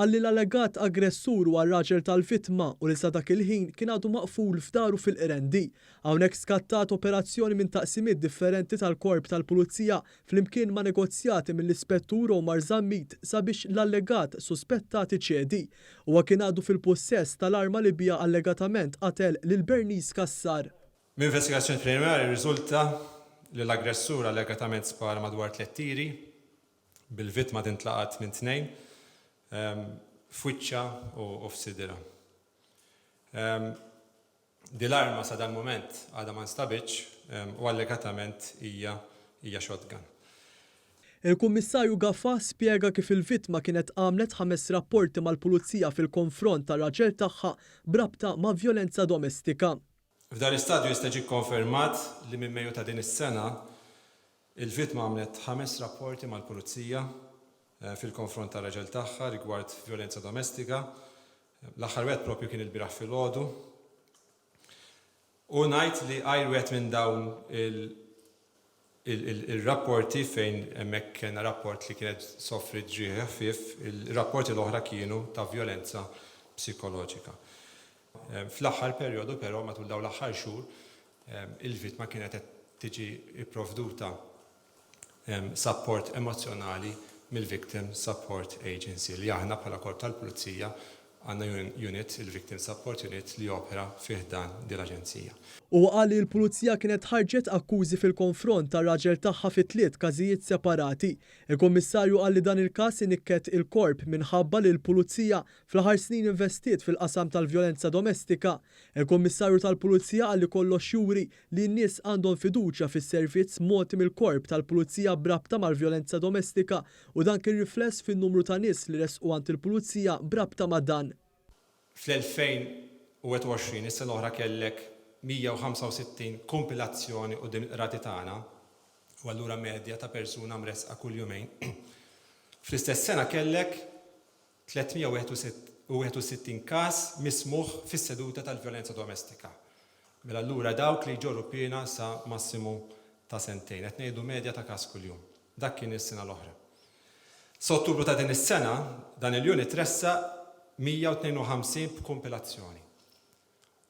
Qal li l-allegat aggressur huwa r-raġel tal-vittma u li sa dak il-ħin kien għadu maqful f'daru fil-Qrendi. Hawnhekk skattat operazzjoni minn taqsimiet differenti tal-Korp tal-Pulizija flimkien ma' negozjati mill-Ispettur Omar Zammit sabiex l-allegat suspettat iċedi. Huwa kien għadu fil-pussess tal-arma li biha allegatament qatel lil Bernice Cassar. Minn investigazzjoni preliminari rriżulta li l-aggressur allegatament spara madwar tliet tiri bil-vittma tintlaqat minn tnejn f'wiċċha u f'sidierha. Din l-arma sa dal-mument għadha ma nstabitx u allegatament hija shotgun. Il-Kummissarju Gafa spjega kif il-vittma kienet għamlet ħames rapporti mal-Pulizija fil-konfront tar-raġel tagħha b'rabta ma' vjolenza domestika. F'dan l-istadju jista' jiġi kkonfermat li minn Mejju ta' din is-sena, il-vittma għamlet ħames rapporti mal-Pulizija fil-konfront tar-raġel tagħha rigward vjolenza domestika. L-aħħar wieħed proprju kien ilbieraħ filgħodu. U ngħid li għajr wieħed minn dawn il Ir-rapporti fejn hemmhekk kellna rapport li kienet soffriet ġrieħi ħfief, ir-rapporti l-oħra kienu ta' vjolenza psikoloġika. Fl-aħħar perjodu però, matul dawn l-aħħar xhur, il-vittma kienet qed tiġi pprovduta sapport emozzjonali mill-Victim Support Agency li aħna bħala Korp tal-Pulizija Għandna unit, il-Victim Support Unit, li jopera fi ħdan din l-Aġenzija. Huwa qal li l-Pulizija kienet ħarġet akkużi fil-konfront tar-raġel tagħha fi tliet każijiet separati. Il-Kummissarju qal li dan il-każ inikket il-Korp minħabba li l-Pulizija fl-aħħar snin investiet fil-qasam tal-vjolenza domestika. Il-Kummissarju tal-Pulizija qal li kollox juri li n-nies għandhom fiduċja fis-servizz mogħti mill-Korp tal-Pulizija b'rabta mal-vjolenza domestika u dan kien rifless fin-numru ta' nies li resqu għand il-Pulizija b'rabta ma' dan. Fl-2021, is-sena l-oħra kellek 165 kumpilazzjoni quddiem il-qrati tagħna u allura medja ta' persuna mressqa kull jumejn. Fl-istess sena kellek 361 każ mismugħ fis-seduta tal-vjolenza domestika. Mela allura dawk li jġorru piena sa massimu ta' sentejn. Qed ngħidu medja ta' każ kuljum. Dak kien is-sena l-oħra. Sa Ottubru ta' din is-sena, dan il-unit ressaq 152 b'kumpilazzjoni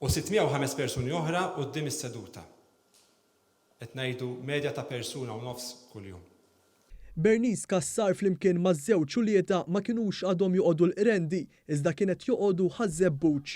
u 605 persuni oħra quddiem is-seduta. Qed ngħidu medja ta' persuna u nofs kuljum. Bernice Cassar flimkien maż-żewġ uliedha ma kinux għadhom joqogħdu l-Qrendi iżda kienet joqogħdu Ħaż-Żebbuġ.